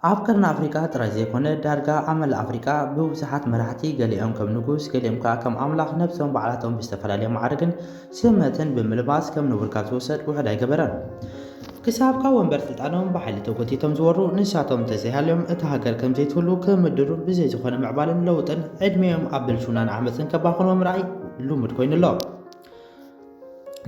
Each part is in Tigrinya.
ኣብ ቀርኒ ኣፍሪቃ ጥራይ ዘይኮነ ዳርጋ ኣብ መላእ ኣፍሪቃ ብብዙሓት መራሕቲ ገሊኦም ከም ንጉስ ገሊኦም ከኣ ከም ኣምላኽ ነብሶም ባዕላቶም ብዝተፈላለየ ማዕርግን ስመትን ብምልባስ ከም ንቡር ካብ ዝወሰድ ውሑድ ኣይገበረን። ክሳብ ካብ ወንበር ስልጣኖም ብሓይሊ ተጎቲቶም ዝወሩ ንሳቶም እንተዘይሃልዮም እታ ሃገር ከም ዘይትህሉ ክምድሩን ብዘይ ዝኾነ ምዕባልን ለውጥን ዕድሜኦም ኣብ ብልሽውናን ዓመጽን ከባኽንዎ ምርኣይ ልሙድ ኮይኑ ኣሎ።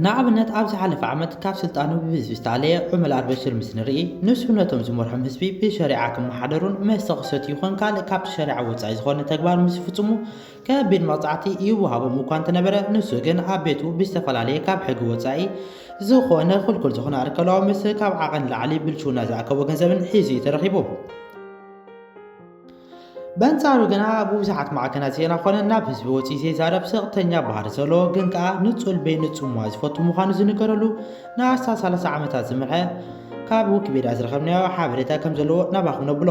ንኣብነት ኣብ ዝሓለፈ ዓመት ካብ ስልጣኑ ብህዝቢ ዝተኣለየ ዑመል ኣልበሽር ምስ ንርኢ ንሱ ነቶም ዝመርሖም ህዝቢ ብሸሪዓ ክመሓደሩን መስተ ክሰት ይኹን ካልእ ካብቲ ሸሪዓ ወፃኢ ዝኾነ ተግባር ምስ ዝፍፅሙ ከቢድ መቕፃዕቲ ይወሃቦም እኳ እንተነበረ ንሱ ግን ኣብ ቤቱ ብዝተፈላለየ ካብ ሕጊ ወፃኢ ዝኾነ ክልኩል ዝኾነ ኣርከላዊ ምስ ካብ ዓቐን ላዕሊ ብልሽውና ዝኣከቦ ገንዘብን ሒዙ እዩ ተረኺቡ። በንጻሩ ግና ኣብ ብዙሓት ማዕከናት ዜና ኮነ ናብ ህዝቢ ወጺኡ ዘይዛረብ ሰቕተኛ ባህሪ ዘለዎ ግን ከኣ ንጹል በይንጹምዋ ዝፈቱ ምዃኑ ዝንገረሉ ንኣስታት 30 ዓመታት ዝመርሐ ካብ ዊኪፔድያ ዝረኸብናዮ ሓበሬታ ከም ዘለዎ ናባኹም ነብሎ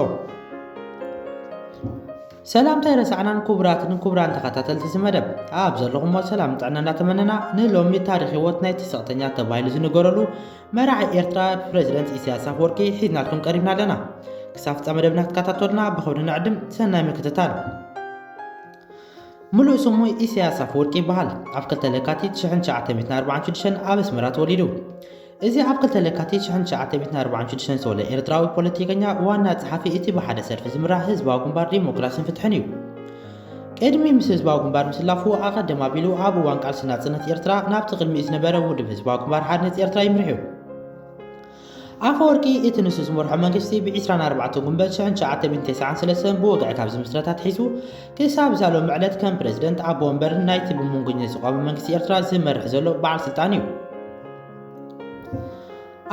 ሰላምታ ረሳዕናን ክቡራትን ክቡራን ተኸታተልቲ እዚ መደብ ኣብ ዘለኹሞ ሰላም ጥዕና እናተመነና ንሎሚ ታሪክ ህይወት ናይቲ ሰቕተኛ ተባሂሉ ዝንገረሉ መራሒ ኤርትራ ፕረዚደንት ኢሳያስ ኣፈወርቂ ሒዝናልኩም ቀሪብና ኣለና። ክሳብ ፍጻመ መደብና ክትከታተሉና ብኸብሪ ንዕድም። ሰናይ ምክትታል። ምሉእ ስሙ ኢሳያስ ኣፈወርቂ ይበሃል። ኣብ 2 ለካቲት 1946 ኣብ ኣስመራ ተወሊዱ። እዚ ኣብ 2 ለካቲት 1946 ዝተወለ ኤርትራዊ ፖለቲከኛ ዋና ጸሓፊ እቲ ብሓደ ሰልፊ ዝምራሕ ህዝባዊ ግንባር ዲሞክራስን ፍትሕን እዩ። ቅድሚ ምስ ህዝባዊ ግንባር ምስላፉ ኣቐድም ኣቢሉ ኣብ እዋን ቃልሲ ናጽነት ኤርትራ ናብቲ ቅድሚኡ ዝነበረ ውድብ ህዝባዊ ግንባር ሓድነት ኤርትራ ይምርሕዩ። ኣፈወርቂ እቲ ንሱ ዝመርሖ መንግስቲ ብ24 ጉንበት 1993 ብወግዒ ካብ ዝምስረት ኣትሒዙ ክሳብ እዛ ሎሚ ዕለት ከም ፕረዚደንት ኣቦ ወንበር ናይቲ ብመንጎኝነት ዝቋመ መንግስቲ ኤርትራ ዝመርሕ ዘሎ በዓል ስልጣን እዩ።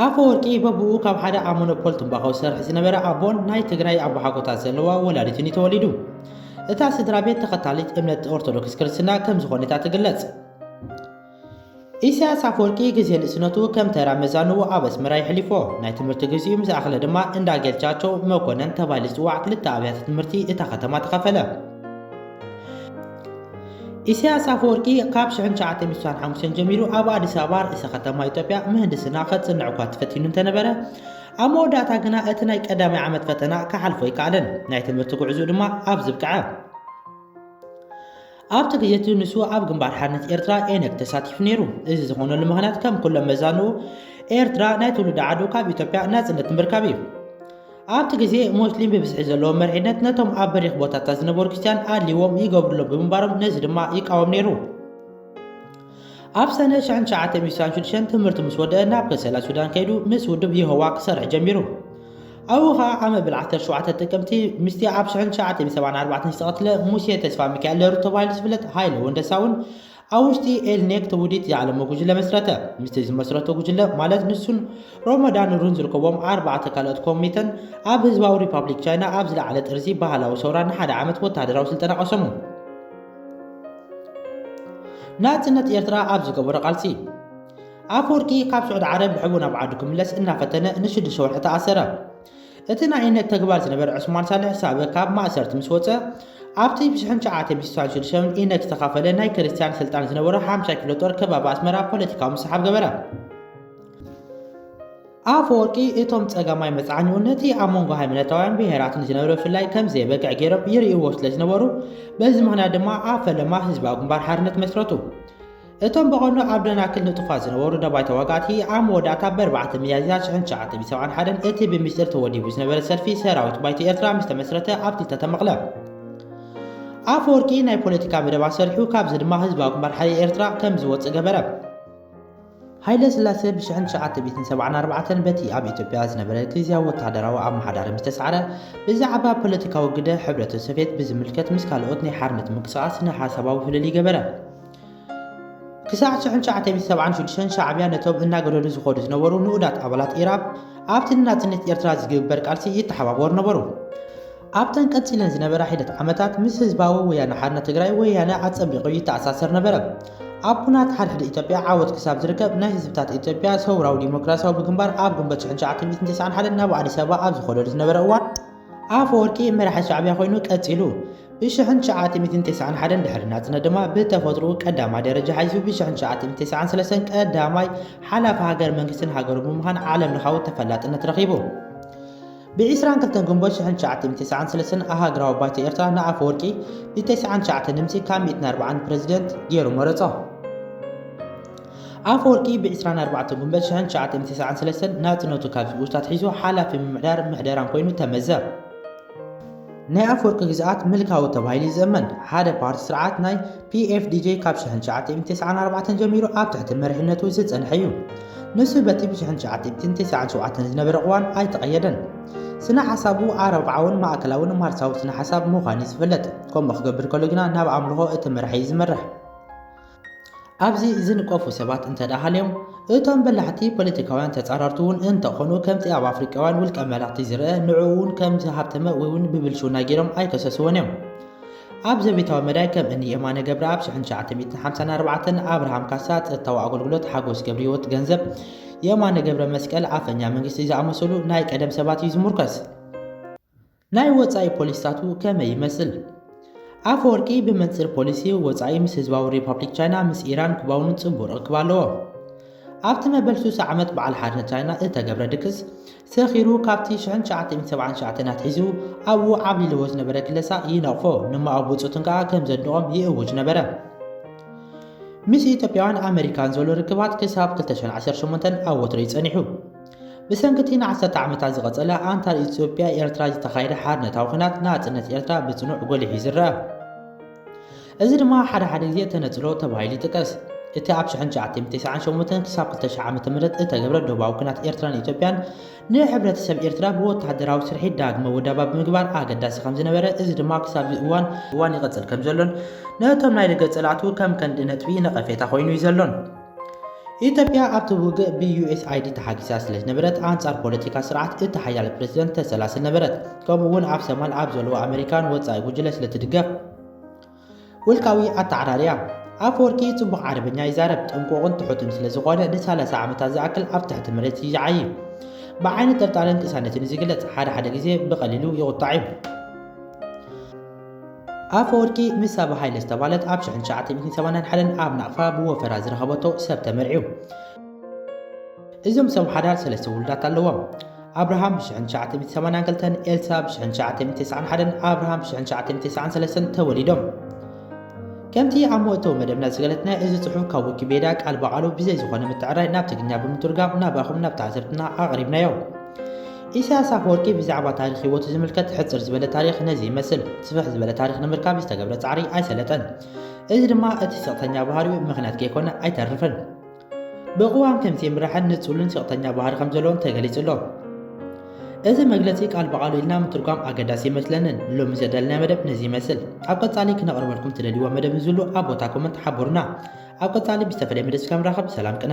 ኣፈወርቂ በብኡ ካብ ሓደ ኣብ ሞኖፖል ትምባኾ ዝሰርሕ ዝነበረ ኣቦን ናይ ትግራይ ኣቦሓጎታት ዘለዋ ወላዲትን እዩ ተወሊዱ። እታ ስድራ ቤት ተኸታሊት እምነት ኦርቶዶክስ ክርስትና ከም ዝኾነት እያ ትግለጽ። ኢሳያስ ኣፈወርቂ ግዜ ንእስነቱ ከም ተራ መዛንኡ ኣብ ኣስመራ የሕሊፎ። ናይ ትምህርቲ ግዜኡ ምስ ኣኽለ ድማ እንዳ ጌታቸው መኮነን ተባሂሉ ዝጽዋዕ ክልተ ኣብያተ ትምህርቲ እታ ከተማ ተኸፈለ። ኢሳያስ ኣፈወርቂ ካብ 1965 ጀሚሩ ኣብ ኣዲስ ኣበባ ርእሰ ከተማ ኢትዮጵያ ምህንድስና ከጽንዕ እኳ ተፈቲኑ እንተነበረ ኣብ መወዳእታ ግና እቲ ናይ ቀዳማይ ዓመት ፈተና ክሓልፎ ኣይከኣለን ናይ ትምህርቲ ጉዕዝኡ ድማ ኣብ ዝብቅዐ ኣብቲ ግዜ እቲ ንሱ ኣብ ግንባር ሓርነት ኤርትራ ኤነግ ተሳቲፉ ነይሩ እዚ ዝኾነሉ ምክንያት ከም ኩሎም መዛንኡ ኤርትራ ናይ ትውልዲ ዓዱ ካብ ኢትዮጵያ ናጽነት ንምርካብ እዩ ኣብቲ ግዜ ሞስሊም ብብዝሒ ዘለዎ መሪሕነት ነቶም ኣብ በሪኽ ቦታታት ዝነበሩ ክርስትያን ኣድልዎም ይገብሩሎም ብምንባሮም ነዚ ድማ ይቃወም ነይሩ። ኣብ ሰነ 1966 ትምህርቲ ምስ ወደአ ናብ ከሰላ ሱዳን ከይዱ ምስ ውድብ የሆዋ ክሰርሕ ጀሚሩ። ኣብኡ ኸኣ ኣብ መበል 17 ጥቅምቲ ምስቲ ኣብ 1974 ዝተቐትለ ሙሴ ተስፋሚካኤል ለሩ ተባሂሉ ዝፍለጥ ሃይለ ወንደሳውን ኣብ ውሽጢ ኤልኔክት ውዲት ዝዓለመ ጉጅለ መስረተ። ምስቲ ዝመስረቶ ጉጅለ ማለት ንሱን ሮሞዳን ሩን ዝርከቦም ኣርባዕተ ካልኦት ኮሚተን ኣብ ህዝባዊ ሪፓብሊክ ቻይና ኣብ ዝለዓለ ጥርዚ ባህላዊ ሰውራ ንሓደ ዓመት ወተሃደራዊ ስልጠና ቀሰሙ። ናጽነት ኤርትራ ኣብ ዝገበሮ ቃልሲ ኣፈወርቂ ካብ ስዑድ ዓረብ ብሕቡእ ናብ ዓዱ ክምለስ እናፈተነ ንሽዱሽተ ወርሒ ተኣሰረ። እቲ ናይ እምነት ተግባር ዝነበረ ዑስማን ሳልሕ ሳበ ካብ ማእሰርቲ ምስ ወጸ፣ ኣብቲ ብሽሕን ትሽዓተን ሚእቲሳን ሽዱሽተን ኢነግ ዝተኻፈለ ናይ ክርስትያን ስልጣን ዝነበሮ ሓምሻይ ክፍለ ጦር ከባቢ ኣስመራ ፖለቲካዊ ምስሓብ ገበረ። ኣፈወርቂ እቶም ጸጋማይ መጽዓኒኡ ነቲ ኣብ መንጎ ሃይማኖታውያን ብሄራትን ዝነበረ ብፍላይ ከም ዘይበቅዕ ገይሮም ይርእይዎ ስለ ዝነበሩ በዚ ምኽንያት ድማ ኣብ ፈለማ ህዝባዊ ግንባር ሓርነት መስረቱ። እቶም ብቐንዱ ኣብ ደናክል ንጡፋት ዝነበሩ ደባይ ተዋጋእቲ፣ ኣብ መወዳእታ ብ ኣርባዕተ ሚያዝያ ሽሕን ትሽዓተ ሚእቲ ሰብዓን ሓደን እቲ ብሚስጢር ተወዲቡ ዝነበረ ሰልፊ ሰራዊት ባይቶ ኤርትራ ምስ ተመስረተ ኣብቲ ዝተተመቕለ ኣፈወርቂ ናይ ፖለቲካ መደብ ኣሰሪሑ ካብዚ ድማ ህዝባዊ ግንባር ሓይሊ ኤርትራ ከም ዝወጽእ ገበረ። ሃይለ ስላሴ ብሽሕን ትሽዓተ ሚእትን ሰብዓን ኣርባዕተን በቲ ኣብ ኢትዮጵያ ዝነበረ ግዝያዊ ወተሃደራዊ ኣመሓዳሪ ምስ ተሳዕረ ብዛዕባ ፖለቲካዊ ግደ ሕብረተ ሶቭየት ብዝምልከት ምስ ካልኦት ናይ ሓርነት ምንቅስቓስ ስነ ሓሳባዊ ፍልልይ ገበረ። ክሳዕ ሽሕን ትሽዓተ ሰብዓን ሽዱሽተን ሻዕብያ ነቶም እናገደዱ ዝኸዱ ዝነበሩ ንኡዳት ኣባላት ኢራብ ኣብቲ ንናጽነት ኤርትራ ዝግብበር ቃልሲ ይተሓባበሩ ነበሩ። ኣብተን ቀጺለን ዝነበራ ሒደት ዓመታት ምስ ህዝባዊ ወያነ ሓርነት ትግራይ ወያነ ኣጸቢቑ ይተኣሳሰር ነበረ። ኣብ ኩናት ሓድሕድ ኢትዮጵያ ዓወት ክሳብ ዝርከብ ናይ ህዝብታት ኢትዮጵያ ሰውራዊ ዲሞክራሲያዊ ብግንባር ኣብ ግንቦት ሽሕን ትሽዓተ ሚእትን ተስዓን ሓደን ናብ ኣዲስ ኣበባ ኣብ ዝኸደሉ ዝነበረ እዋን ኣፈወርቂ መራሒ ሻዕብያ ኮይኑ ቀጺሉ። ብሽሕን ትሽዓተ ሚእትን ተስዓን ሓደን ድሕሪ ናጽነት ድማ ብተፈጥርኡ ቀዳማይ ደረጃ ሓይዙ ብሽሕን ትሽዓተ ሚእትን ተስዓን ሰለስተን ቀዳማይ ሓላፊ ሃገር መንግስትን ሃገሩ ብምዃን ዓለም ለኻዊ ተፈላጥነት ረኺቡ። ብዒስራን ክልተን ግንቦት ሽሕን ትሽዓተ ሚእትን ተስዓን ሰለስተን ኣሃግራዊ ባይቶ ኤርትራ ንኣፈወርቂ ብተስዓን ትሽዓተን ድምጺ ካብ ሚእትን ኣርብዓን ፕረዚደንት ገይሩ መረጾ። ኣፈወርቂ ብ ዕስራን ኣርባዕተን ጉንበት ሽሕን ትሽዓተ ሚእቲ ተስዓን ሰለስተን ናጽነቱ ካብ ዝእውጅ ኣትሒዙ ሓላፊ ምምሕዳርን ምሕደራን ኮይኑ ተመዘ። ናይ ኣፈወርቂ ግዝኣት ምልካዊ ተባሂሉ ዝእመን፣ ሓደ ፓርቲ ስርዓት ናይ PFDJ ካብ ሽሕን ትሽዓተ ሚእቲ ተስዓን ኣርባዕተን ጀሚሩ ኣብ ትሕቲ መሪሕነቱ ዝጸንሐ እዩ። ንሱ በቲ ብ ሽሕን ትሽዓተ ሚእትን ተስዓን ሸውዓተን ዝነበረ ቅዋም ኣይተቐየደን። ስነ-ሓሳቡ ኣረብዓውን ማእከላውን ማርክሳዊ ስነ-ሓሳብ ምዃኑ'ዩ ዝፍለጥ። ከምኡ ክገብር ከሎ ግና ናብ ኣምልኾ እቲ መራሒ'ዩ ዝመርሕ። ኣብዚ ዝንቀፉ ሰባት እንተድኣ ሃልዮም፣ እቶም በላሕቲ ፖለቲካውያን ተጻረርቲ'ውን እንተኾኑ፣ ከምቲ ኣብ ኣፍሪቃውያን ውልቀ መላኽቲ ዝርኣ፣ ንዕኡ'ውን ከም ዝሃብተመ ወይ'ውን ብብልሽውና ጌሮም ኣይከሰስዎን እዮም። ኣብ ዘቤታዊ መዳይ ከም እኒ የማነ ገብረኣብ፣ ሽሕን ትሽዓተ ሚእትን ሓምሳን ኣርባዕተን፣ ኣብርሃም ካሳ፣ ጸጥታዊ ኣገልግሎት፣ ሓጎስ ገብርሂወት፣ ገንዘብ፣ የማነ ገብረመስቀል፣ ኣፈኛ መንግስቲ፣ ዝኣመሰሉ ናይ ቀደም ሰባት እዩ ዝሙርከስ። ናይ ወጻኢ ፖሊሲታቱ ከመይ ይመስል? ኣፈወርቂ ብመንጽር ፖሊሲ ወጻኢ ምስ ህዝባዊ ሪፓብሊክ ቻይና፣ ምስ ኢራን ኩባውን ጽቡቕ ርክብ ኣለዎ። ኣብቲ መበል ስሳ ዓመት በዓል ሓድነት ቻይና እተገብረ ድግስ ሰኺሩ ካብቲ ሽሕን ትሽዓተ ሰብዓን ትሽዓተን ኣትሒዙ ኣብኡ ዓብሊልዎ ዝነበረ ክለሳ ይነቕፎ፣ ንማኦ ብጹቱን ከኣ ከም ዘድንቖም ይእውጅ ነበረ። ምስ ኢትዮጵያውያን ኣመሪካን ዘሎ ርክባት ክሳብ ክልተ ሽሕን ዓሰርተ ሸሞንተን ኣብ ወትሩ እዩ ጸኒሑ። ብሰንኪ እቲ ንዓሰርተ ዓመታት ዝቐጸለ ኣንታር ኢትዮጵያ ኤርትራ ዝተኻየደ ሓርነታዊ ኩናት ናጽነት ኤርትራ ብጽኑዕ ጎሊሑ እዩ ዝረአ። እዚ ድማ ሓደ ሓደ ግዜ ተነጽሎ ተባሂሉ ይጥቀስ። እቲ ኣብ ሽሕን ትሽዓተን ተስዓን ሸሞንተን ክሳብ ክልተ ሽሕ ዓመተ ምህረት እተገብረ ዶባዊ ኲናት ኤርትራን ኢትዮጵያን ንሕብረተሰብ ኤርትራ ብወተሃደራዊ ስርሒት ዳግመ ውዳባ ብምግባር ኣገዳሲ ከም ዝነበረ እዚ ድማ ክሳብ እዚ እዋን እዋን ይቐጽል ከም ዘሎን ነቶም ናይ ደገ ጸላእቱ ከም ከንዲ ነጥቢ ነቐፌታ ኮይኑ እዩ ዘሎን ኢትዮጵያ ኣብቲ ውግእ ብዩኤስኣይዲ ተሓጊሳ ስለ ዝነበረት ኣንጻር ፖለቲካ ስርዓት እቲ ሓያል ፕሬዚደንት ተሰላስል ነበረት። ከምኡ እውን ኣብ ሰማል ኣብ ዘለዎ ኣመሪካን ወጻኢ ጉጅለ ስለ ትድገፍ። ውልቃዊ ኣተዓራርያ ኣፈወርቂ ጽቡቕ ዓረበኛ ይዛረብ፣ ጥንቁቕን ትሑትን ስለ ዝኾነ ንሳላሳ ዓመታት ዝኣክል ኣብ ትሕቲ መሬት ይዓዪ። ብዓይኒ ጥርጣረን ቅሳነትን እዩ ዝግለጽ፣ ሓደ ሓደ ግዜ ብቐሊሉ ይቑጣዕ እዩ። ኣፈወርቂ ምስ ሳባ ሃይለ ዝተባህለት ኣብ ሽሕን ትሽዓተ ሚእትን ሰማንያን ሓደን ኣብ ናቕፋ ብወፈራ ዝረኸበቶ ሰብ ተመርዕዩ። እዞም ሰብ ሓዳር ሰለስተ ውሉዳት ኣለዎም። ኣብርሃም ብሽሕን ትሽዓተ ሚእቲ ሰማንያን ክልተን ኤልሳ ብሽሕን ትሽዓተ ሚእቲ ተስዓን ሓደን ኣብርሃም ብሽሕን ትሽዓተ ሚእቲ ተስዓን ሰለስተን ተወሊዶም። ከምቲ ኣብ መእተዊ መደብና ዝገለጽናዮ እዚ ጽሑፍ ካብ ዊኪፔድያ ቃል ብቓሉ ብዘይ ዝኾነ ምትዕርራይ ናብ ትግርኛ ብምትርጓም ናባኹም ናብ ተዓዘብትና ኣቕሪብናዮ። ኢሳያስ ኣፈወርቂ ብዛዕባ ታሪኽ ህይወቱ ዝምልከት ሕጽር ዝበለ ታሪኽ ነዚ ይመስል። ስፍሕ ዝበለ ታሪኽ ንምርካብ ዝተገብረ ጻዕሪ ኣይሰለጠን። እዚ ድማ እቲ ስቕተኛ ባህሪኡ ምኽንያት ከይኮነ ኣይተርፍን። ብቕዋም ከምዚ ይምራሕን ንጹልን ስቕተኛ ባህሪ ከም ዘለዎን ተገሊጹ ኣሎ። እዚ መግለጺ ቃል ብቓሉ ኢልና ምትርጓም ኣገዳሲ ይመስለንን ሎሚ ዘዳለናዮ መደብ ነዚ ይመስል ኣብ ቀጻሊ ክነቕርበልኩም ትደልይዎ መደብ ንዝሉ ኣብ ቦታ ኮመንት ሓቡርና ኣብ ቀጻሊ ብዝተፈለየ መደብ ስከምራኸብ ሰላም ቅነ